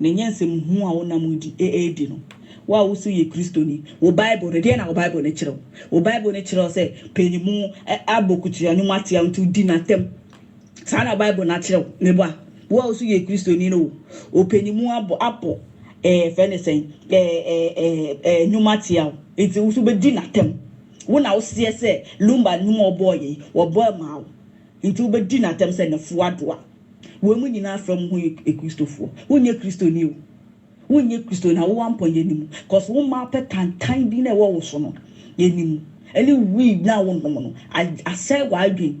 Na ɛnyɛ nsɛm hunu a wonam di adi no. Wo a wose woyɛ Kristoni, wo Bible no, deɛn na wo Bible no kyerɛ wo? Wo Bible no kyerɛ wo sɛ paanimu abɔ kutua no mu ateaw nti wodi no atɛm. Saa na wo Bible no akyerɛ wo, me ba. Wo a wose woyɛ Kristoni no, wo paanimu abɔ, abɔ, ɛɛ, yɛfrɛ no sɛn, ɛɛ, ɛɛ, ɛɛ, ɛɛ, nnwom ateaw nti wo nso wobɛdi no atɛm. Wo na woseɛ sɛ Lumba nnwom a wɔbɔeɛ yi, wɔbɔe maa wo. Enti wobɛdi no atɛm sɛ nnafua adoa. Wei mu nyinaa fra mu ho yɛ Kristofoɔ. Wonyɛ Kristoni o. Wonyɛ Kristoni na wowɔ ampɔnyɛ no mu cause wo mmaa pɛ tantan bi no a ɛwɔ wo so no ɛni mu. Ɛne weed no a wonom no asɛe w'adwene.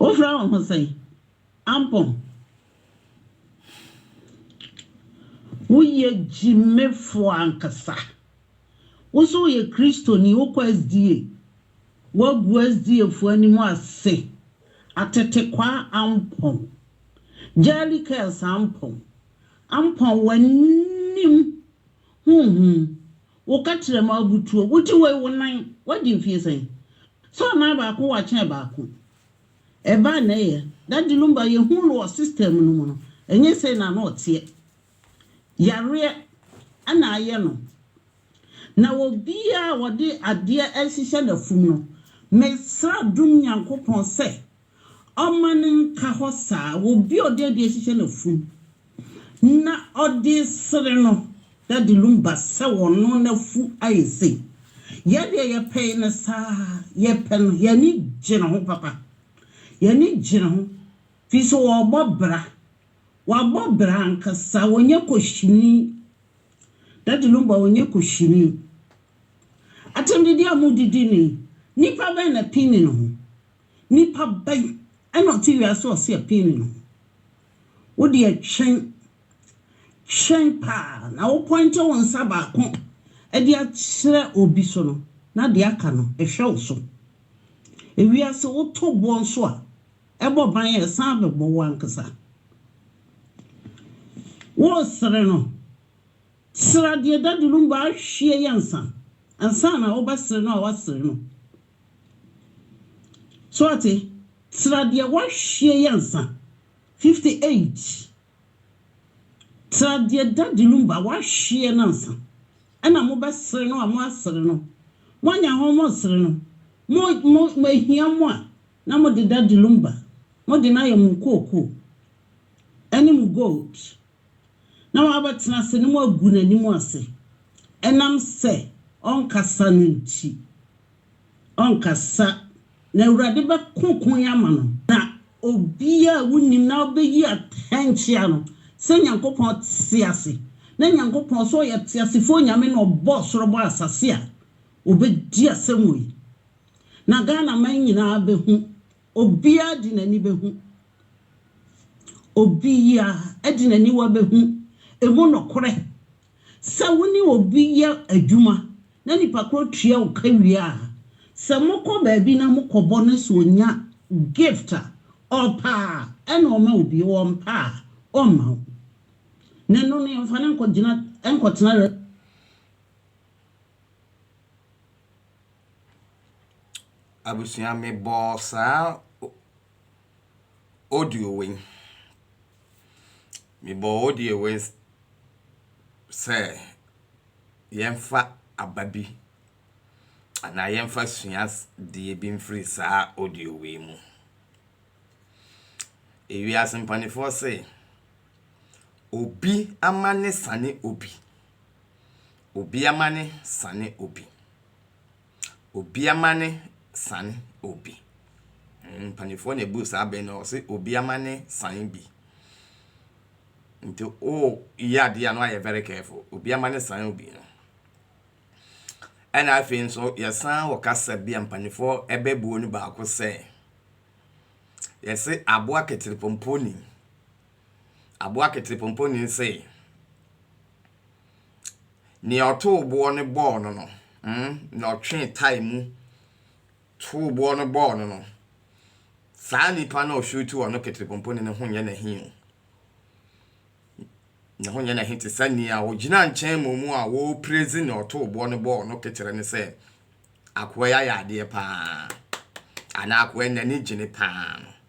Wofrɛ wo ho sɛn? Ampɔn. Woyɛ gyimefo ankasa. Wo nso woyɛ Kristoni, wokɔ SDA. Woagu SDAfo anim ase. Atetekwaa Ampɔn. Gyɛɛli Kɛɛls Ampɔn. Ampɔn w'anim honhom Wo katra mu abutuo. Wo ti wei wo nan. Wadi mfie sɛn? Sɛ ɔnan baako wakyɛn baako. Ɛbaa na ɛyɛ. Daddy Lumba yɛhuu no wɔ system no mu no, ɛnyɛ sei na na ɔteɛ. Yareɛ na ayɛ no. Na obiara a ɔde adeɛ ɛhyehyɛ n'afum no, mesrɛ dom Nyankopɔn sɛ Ɔma no nka hɔ saa wɔ obi a ɔde ade ahyehyɛ n'afum, na ɔde resere no. Daddy Lumba sɛ ɔno n'afu ayɛ sei. Yɛn deɛ yɛpɛe no saa, yɛpɛ no, yɛn ani gye ne ho papa. Yɛn ani gye ne ho firi sɛ ɔrebɔ bra. Wabɔ bra ankasa, ɔnyɛ kohyini. Daddy Lumba ɔnyɛ kohyini. Atɛmdidi a modidi no yi, nnipa bɛn na pini ne ho? Nipa bɛn na ɔte wiase a ɔse ɛpee no ne ho? Wo deɛ twɛn, twɛn paa na wo pɔinte wo nsa baako de akyerɛ obi so no na deɛ aka no ɛhwɛ wo so. Ewiase woto boɔ nso a ɛbɔ ban a ɛsan bɛbɔ wo ankasa. Woresere no, sere adeɛ dadulum baahwie yɛ nsa ansa na wobɛsere no a woasere no. So ate? Tra deɛ woahwie yɛ ansa. Fifty eight, tra deɛ Daddy Lumba wahwie no ansa. Ɛna mo bɛ sere no a mo asere no. Mo anya ho mo sere no. Mo, mo, mo ehia mo a, na mo de Daddy Lumba, mo de no ayɛ mo nkuokuo. Ɛne mo gold. na wɔabɛtena ase na wɔagu n'anim ase ɛnam sɛ ɔnkasa no nti. Ɔnkasa, na Awurade bɛko koe ama no. Na obiara a wonnim na ɔbɛyi atɛn kyea no, sɛ Nyankopɔn te ase, na Nyankopɔn, sɛ ɔyɛ teasefoɔ Nyame na ɔbɔɔ ɔsoro bɔɔ asase a, ɔbɛdi asɛm wei. Na Ghanaman nyinaa bɛhu Obiara de n'ani behu. Obiara de n'aniwa behu emu nokorɛ. Sɛ wo ne obi yɛ adwuma na nipa korɔ tua wo ka wie a, sɛ mokɔ baabi na mokɔbɔ na sɛ ɔnya gift a, ɔpɛ a, ɛna ɔma wo bi, ɔmpɛ a, ɔmma wo. Na ɛno no, yɛmfa no nkɔgyina, nkɔtena. Abusua me bɔɔ saa audio wei. Me bɔɔ audio wei sɛ yɛnfa aba bi anaa yɛnfa sua deɛ bi nfiri saa audio wei mu. Ewiase mpaninfoɔ se obi amane sane obi. Obi amane sane obi. Obi amane san obi. Mpanimfoɔ na ɛbu saa bɛ no, wɔse obi amane san bi. Nti woyɛ adeɛ a na woayɛ very careful. Obi amane san obi no. Ɛna afei nso yɛsan wɔ kasa bi a mpanimfoɔ bɛbuo no baako sɛ, yɛse aboa keterepɔmpɔni. Aboa keterepompɔnyin sei, nea ɔtow boɔ no bɔɔ no no, mm, na ɔtwee tae mu tow boɔ no bɔɔ no no, saa nipa no a ɔshuutu ɔno keterepompɔnyin no ho nyɛ n'ahi o. Ne ho nyɛ n'ahi te sɛ nea ɔgyina nkyɛn mmomu a wɔreprezi nea ɔtow boɔ no bɔɔ no kekyerɛ no sɛ, akoa yi ayɛ adeɛ paa, anaa akoa yi n'ani gye no paa no.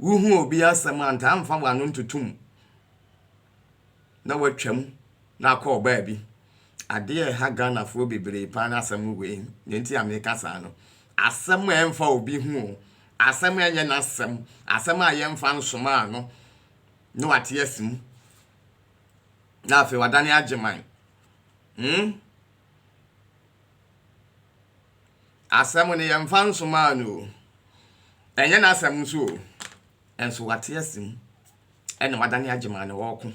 Wohu obi asɛm a, ntaa mfa w'ano ntoto mu na woatwam na akɔ ɔbaa bi. Adeɛ a ɛha Ghanafoɔ bebree paa ne asɛm no wei. Deɛ nti a meka saa no, asɛm a ɛmfa obi ho o, asɛm a ɛnyɛ n'asɛm, asɛm a yɛmfa nsoma ano na wate asi mu na afei wadane agyeman. Hmm? Asɛm no, yɛmfa nsomaa no o, ɛnyɛ n'asɛm nso o, nanso wate ase mu na wadane agyeman na ɔreko.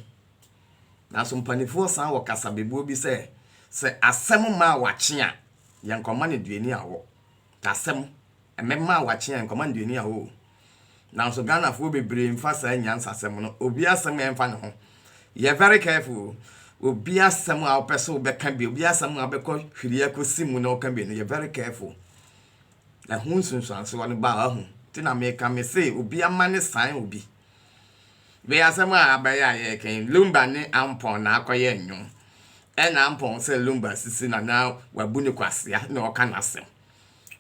Nanso mpanimfoɔ san wɔ kasabebuo bi sɛ, sɛ asɛm mma awakye a, yɛnkɔma no aduani awɔ. Asɛm, ɛmmɛma awakye a, yɛnkɔma no aduani awɔ o. Nanso Ghanafoɔ bebree mfa saa nyansasɛm no, obi asɛm a ɛmfa ne ho. Yɛ very careful o. Obi asɛm a wopɛ sɛ wobɛka bi, obi asɛm a wobɛkɔ hwiri akɔsi mu na woka bi no, yɛ very careful. Ɛho nsunsuansoɔ no ba a wahu. Nti na meka me se obi ama ne san obi. Wei asɛm a abɛyɛ a yɛreka yi, Lumba ne Ampɔn na akɔyɛ nnwom. Ɛna Ampɔn sɛ Lumba sisi na na wabu no kwasea na ɔka n'asɛm.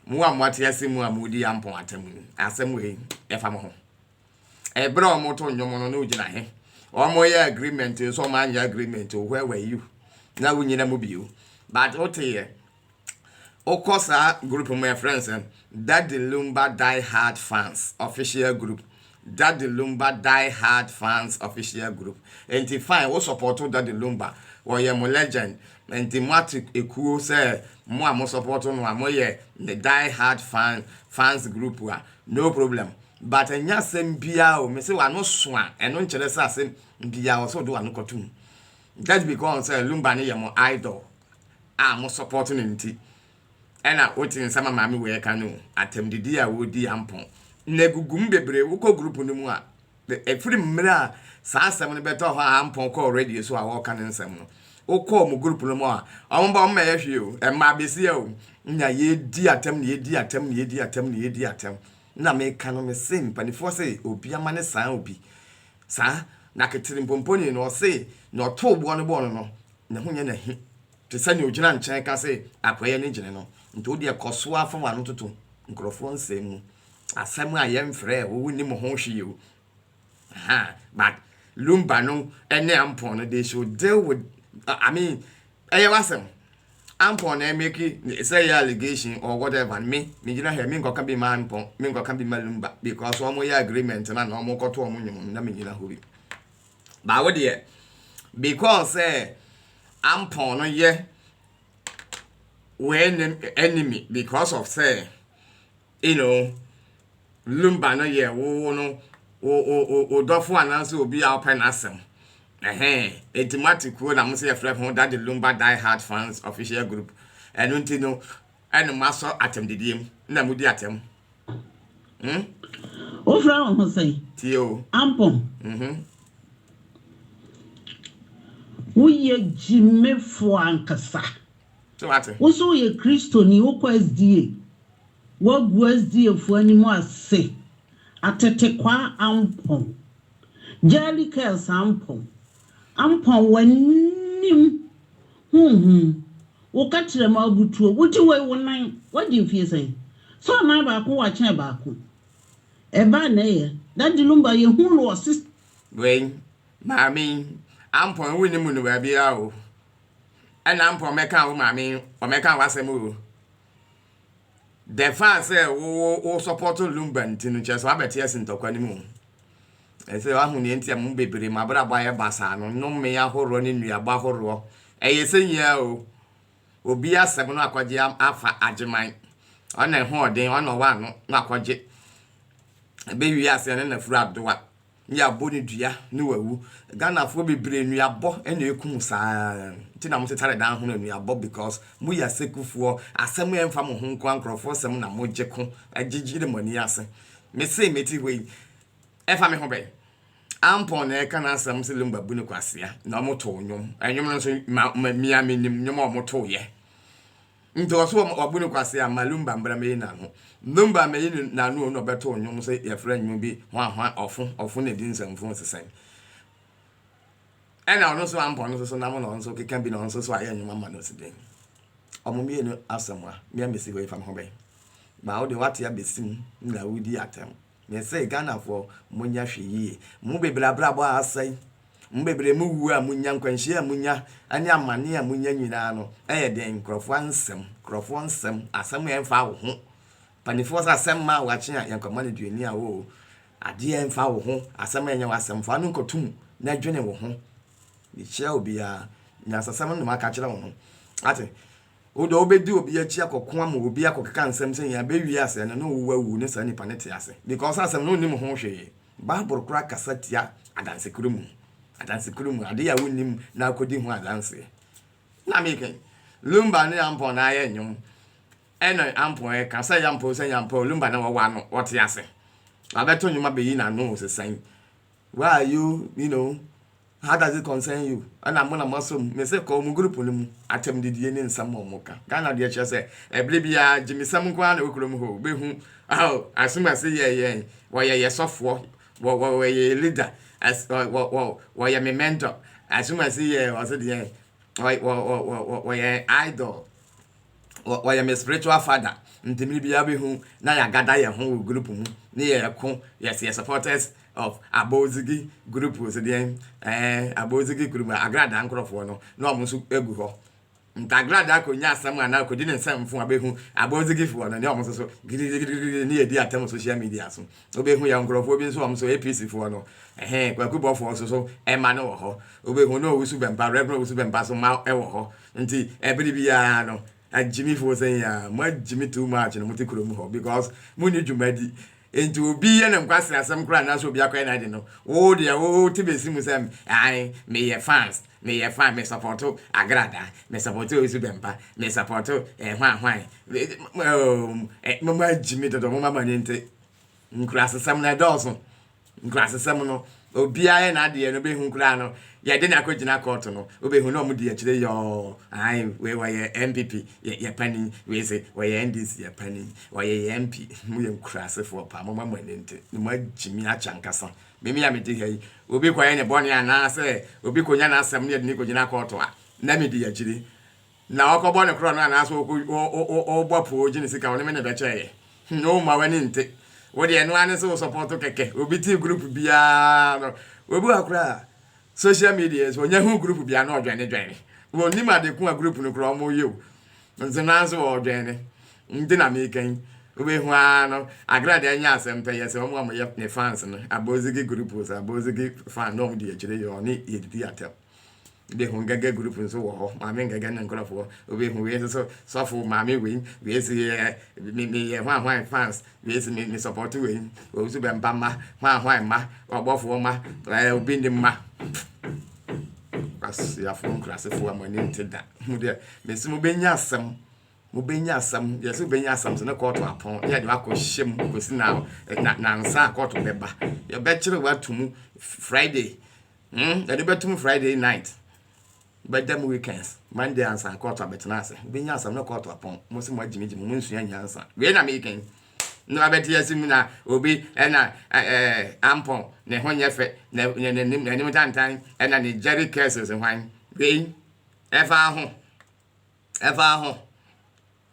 Mo a moate ase mu a moredi Ampon Atemmu no, asɛm wei, ɛfa mo ho. Ɛberɛ a wɔreto nnwom no, na wogyina he? Wɔyɛ agreement nso wɔanyɛ agreement o, where were you? Na wonyina mu bio. But woteeɛ, wokɔ saa group mu a, yɛfrɛ no sɛn? Daddy Lumba Die Hard Fans Official Group. Daddy Lumba Die Hard Fans Official Group Enti fine wo sɔpɔto Daddy Lumba ɔyɛ mo legend enti moato ekuo sɛ mo a mo sɔpɔto no a moyɛ ne die hard fan fans group a no problem but ɛnyɛ asɛm biaa o mese w'ano so a ɛno nkyerɛ sɛ asɛm biaa wɔ sɛ wode w'ano kɔto mu just because sɛ Lumba no yɛ mo idol a mo sɔpɔto no nti Ɛna wote nsɛm a maame wei ɛka no o, atɛmdidi a wodi ampɔn na egugu mu bebree, wokɔ group no mu a ɛfiri mmerɛ a saa asɛm no bɛtɔɔ hɔ a ampɔn kɔɔ radio so a wɔɔka ne nsɛm no, wokɔ wɔn group no mu a wɔn ba wɔn mɛyɛ hwee o, ɛmaa besia o, na yɛɛdi atɛm na yɛɛdi atɛm na yɛɛdi atɛm na yɛɛdi atɛm, na meka no mese mpanifoɔ se obi ama ne saa obi saa, na keterimpomponi no ɔse na ɔtoo boɔ no bɔɔ no no, ne ho nyɛ n'ahi te sɛ nea ogyina nkyɛn ka se akoa yi ani gyene no nti wo deɛ kɔ so ara fa w'ano toto nkurɔfoɔ nsɛm mu asɛm a yɛmfrɛɛ wo wonni mo ho hwee o aha but lumba no ne ampɔn no they should deal with uh, i mean ɛyɛ w'asɛm ampɔn na ɛmɛki sɛ ɛyɛ allegation or whatever me megyina hɛ menkɔka bi ma ampɔn menkɔka bi ma lumba because wɔn yɛ agreement na na wɔn kɔto wɔn nnwom na megyina hɔ bi But wo deɛ because sɛ Ampon no yɛ w'enemy because of sɛ you know Lumba no yɛ wo no wo wo wo wo dɔfo anaasɛ obi a wopɛ n'asɛm. Ɛhɛn, eti mo ate kuo na mo sɛ yɛfrɛ ho Daddy Lumba Die Hard Fans Official Group. Ɛno nti no ɛna mo asɔ atɛmdidie mu na modi atɛm. Hmm? Wofrɛ wo ho sɛn? Tie o. Ampɔn. Mhm. Woyɛ gyimefo ankasa. So ate? Wo so woyɛ Kristoni, wokɔ SDA. Woagu SDA fo anim ase. Atetekwaa Ampɔn. Jelly Curls Ampɔn. Ampa w'anim honhom. Wo kakyerɛ mu abutuo. Wo ti wei wo nan. W'adi mfie sɛn? Sɛ ɔnan baako w'akyɛn baako. Ɛbaa na ɛyɛ. Daddy Lumba yɛ hu no wɔ sis. Wei maame yi ampɔn wo nni mu no baabiara o ɛna ampɔn mɛka wo maame yi ɔmɛka w'asɛm o the fact sɛ wo wo wo support Lumba nti no kyerɛ sɛ wabɛte asi ntɔkwa no mu o. Ɛsɛ wahu nea enti a mo bebree mu abrabɔ ayɛ basaa no, nnome ahoroɔ ne nnuaba horoɔ. Ɛyɛ sɛ nyia o, obi asɛm na wakɔgye afa Agyeman. Ɔna ɛho ɔden, ɔna ɔwɔ ano na wakɔgye. Ɛbɛwie aseɛ ne nafuru adoa, ne yɛabɔ no dua ne wawu. Ghanafoɔ bebree nnuabɔ na ɛkum saa nti na motetare dan ho no nnuabɔ because moyɛ asɛkufoɔ, asɛm a ɛmfa mo ho nko ara nkorɔfoɔ sɛm na mogye ko gye gyere mo ani ase. Mese mete hɔ yi, Ɛfa me ho bɛn? Ampon na ɛka n'asɛm sɛ Lumba bu no kwasea na wɔtow nnwom. Nnwom no nso, ma, ma, mia menim nnwom a wɔtow'yɛ. Nti ɔso wɔ, wabu no kwasea, ma Lumba mbra meyi n'ano. Lumba meyi no n'ano o na ɔbɛtow nnwom sɛ yɛfrɛ nnwom bi hwa hwa ɔfo, ɔfo na ɛdi nsɛmfua nsesɛn. Ɛna ɔno nso Ampon nso so nam na ɔno nso keka bi na ɔno nso so ayɛ nnwom ama no si den. Ɔmo mmienu asɛm a, mia mesi hɔ yi fa me ho bɛn? Baa wo deɛ wate abɛsi mu na wodi atɛm. Me se Ghanafoɔ monyɛ hwee yie. Mo bebree abrabɔ asɛe, mo bebree mo wuo a monya, nkwanhyia a monya ne amaneɛ a monya nyinaa no yɛ deɛn? Nkorɔfoɔ ansɛm, nkorɔfoɔ nsɛm, asɛm a ɛmfa wo ho. Mpanifoɔ sɛ asɛm maa wakye a yɛnkɔma no aduani a oo, adeɛ a ɛmfa wo ho, asɛm a ɛnyɛ w'asɛm, fa no nkɔto mu na dwene wo ho. Mekyia obiara, nyansasɛm no na maka akyerɛ wo no. Wate? Wo deɛ wobɛdi obi akyi akɔko ama obi akɔkeka nsɛm sɛ yɛn abɛ wie asɛɛ no na ɔwu awu na saa nipa no te ase because asɛm no ɔnnim ho hwee. Bible koraa kasa tia adansekuo mu. Adansekuo mu adeɛ a wonnim na akɔdi ho adanseɛ. Na meka yi, Lumba ne Ampon na ayɛ nnwom ɛna Ampon ɛka sɛ Yampoo sɛ Yampoo, Lumba na wawa no, ɔte ase. Wabɛto nnwom abɛyi n'ano o, sesan. Where are you you know how does it concern you ɛna mo na mo asɔ mu mese kɔ wɔn group no mu atɛm didie ne nsɛm a wɔn ka Ghana deɛ kyerɛ sɛ ɛbere biara gyimisɛm nko ara na ɛwɔ kurom hɔ bɛhu oh asom ase yɛ yɛn wɔyɛ yɛ sɔfoɔ wɔ wɔ wɔyɛ yɛ leader as wɔ wɔ wɔ wɔyɛ me mentor asom ase yɛ ɔse deɛ wɔ wɔ wɔ wɔ wɔyɛ idol wɔ wɔyɛ me spiritual father nti mmere biara bɛhu na yɛagada yɛn ho wɔ group mu ne yɛko yɛs yɛ supporters of abozigi group sɛ deɛn ɛɛ abozigi group agradaa nkorɔfoɔ no na ɔmo nso gu hɔ nti agradaa kɔnya asɛm anaa kɔdi ne nsɛmfo a bɛhu abozigifoɔ no ne ɔmo nso so gidigidigidi ne yɛdi atam social media so Wobehu yɛn nkorɔfoɔ bi nso, ɔmo so APC foɔ no, ɛhee, Kwaku Bɔfoɔ so so mma no wɔ hɔ, wobehu ne Owusu Bɛmpa, Rev Owusu Bɛmpa so mma wɔ hɔ, nti ɛbere biara no, Agyimi foɔ sɛn yi aa, mo agyimi too much na mote kuro mu hɔ because mo nni dwuma di, nti obi yɛ ne nkwasere asɛm koraa anaasɛ obi akɔyɛ n'ade no, wo deɛ wo te bɛsi mu sɛ ae, meyɛ fans. Me yɛ fine me sɔpɔto agrada me sɔpɔto osu bɛmpa me sɔpɔto eh hwan hwan oh mo ma gyimi dodo mo ma mani nte nkurasesɛm no ɛdɔɔso nkurasesɛm no obiara yɛ n'adeɛ no bɛhu koraa no yɛde no akɔgyina kɔɔto no wobɛhu na ɔmo di akyire yɔɔ ae wei wɔyɛ NPP yɛ yɛ panin wei se wɔyɛ NDC yɛ panin wɔyɛ yɛ MP mo yɛ nkurasefoɔ paa mo ma mani nte mo ma gyimi akyɛ ankasa Me me a mete ha yi, obi kɔyɛ ne bɔne anaasɛ obi kɔnya n'asɛm no yɛ de no kɔgyina kɔɔto a, na medi akyire. Na ɔkɔbɔ ne korɔno anaasɛ ɔbɔ apoo gye ne sika, ɔne me na ɛbɛkyɛeɛ. Hum, wo mma w'ani nte. Wo deɛ ɛno ara ne sɛ wo sɔpɔɔto kɛkɛ. Obi te group biara no. Obi wɔ hɔ koraa a, social media so ɔnya hu group bia na ɔdwɛne dwɛne wɔnim ade ko a group no kora ɔmo yɛ o nti nanso ɔdwɛne nti na meka yi wobɛhu ara no agra deɛ ɛnyɛ asɛm pɛ yɛ sɛ ɔmo a ɔmo yɛ ne fans no abozigi group so abozigi fan na ɔmo di akyire yɛ ɔne yɛdidi atɛm wobɛhu ngɛgɛ group nso wɔ hɔ maame ngɛgɛ ne nkorɔfoɔ wobɛhu wei nso so sɔfo maame wei wei si yɛ meyɛ hwan hwan fans Me nso me me support wei. Wɔn nso bɛn ba mma, hwan hwan mma, ɔbɔfoɔ mma, ɛɛ obi ne mma. Kwasiafoɔ nkurasefoɔ a mo ani nte da. Mo deɛ me nso mo bɛnya asɛm. Mo bɛnya asɛm. Yɛ so bɛnya asɛm so ne kɔɔto apɔn. Yɛ de wakɔ hyɛ mu kɔsi na na nansa a kɔɔto bɛba. Yɛbɛkyerɛ watu mu Friday. Hmm, yɛde bɛtum Friday night. Bɛda mu weekends, Monday ansa kɔɔto abɛtena ase, wobɛnya asɛm no kɔɔto apɔn, mo se moagyimigyi mo, monsua nyansa, wei na meka yi, na wabɛte ase mu na obi ɛna ɛɛ ampɔn, ne ho nyɛ fɛ, na n'anim tantan, ɛna ne gyɛre curses hwan, wei ɛfa ho, ɛfa ho,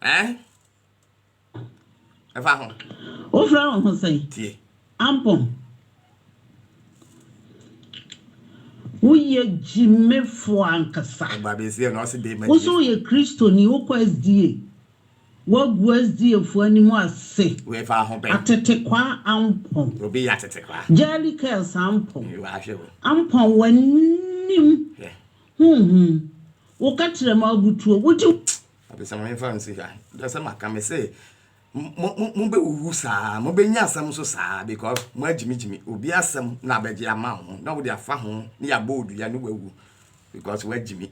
eh? Ɛfa ho. Wofrɛ wo ho sɛn? Tie. Ampɔn. Woyɛ gyimefo ankasa. Ɔbaa bi nso yɛ na ɔse dee ma gyimefo. Wo nso woyɛ Kristoni, wokɔ SDA. Woagu SDA fo anim ase. Wei fa ho bɛn? Atetekwaa Ampɔn. Obi yɛ atetekwaa. Jelly Curls Ampɔn. Wahwɛ o. Ampɔn w'anim honhom. Wo kakyerɛ ma abutuo. Wogye. Adesamma mfa nsi ha. Kyerɛ sɛ maka me se mobɛwuwu saa, mobɛnya asɛm nso saa because moagyimigyimi obi asɛm na abɛgye ama wo ho na wode afa ho ne yɛabɔ odua ne wawu because woagyimi.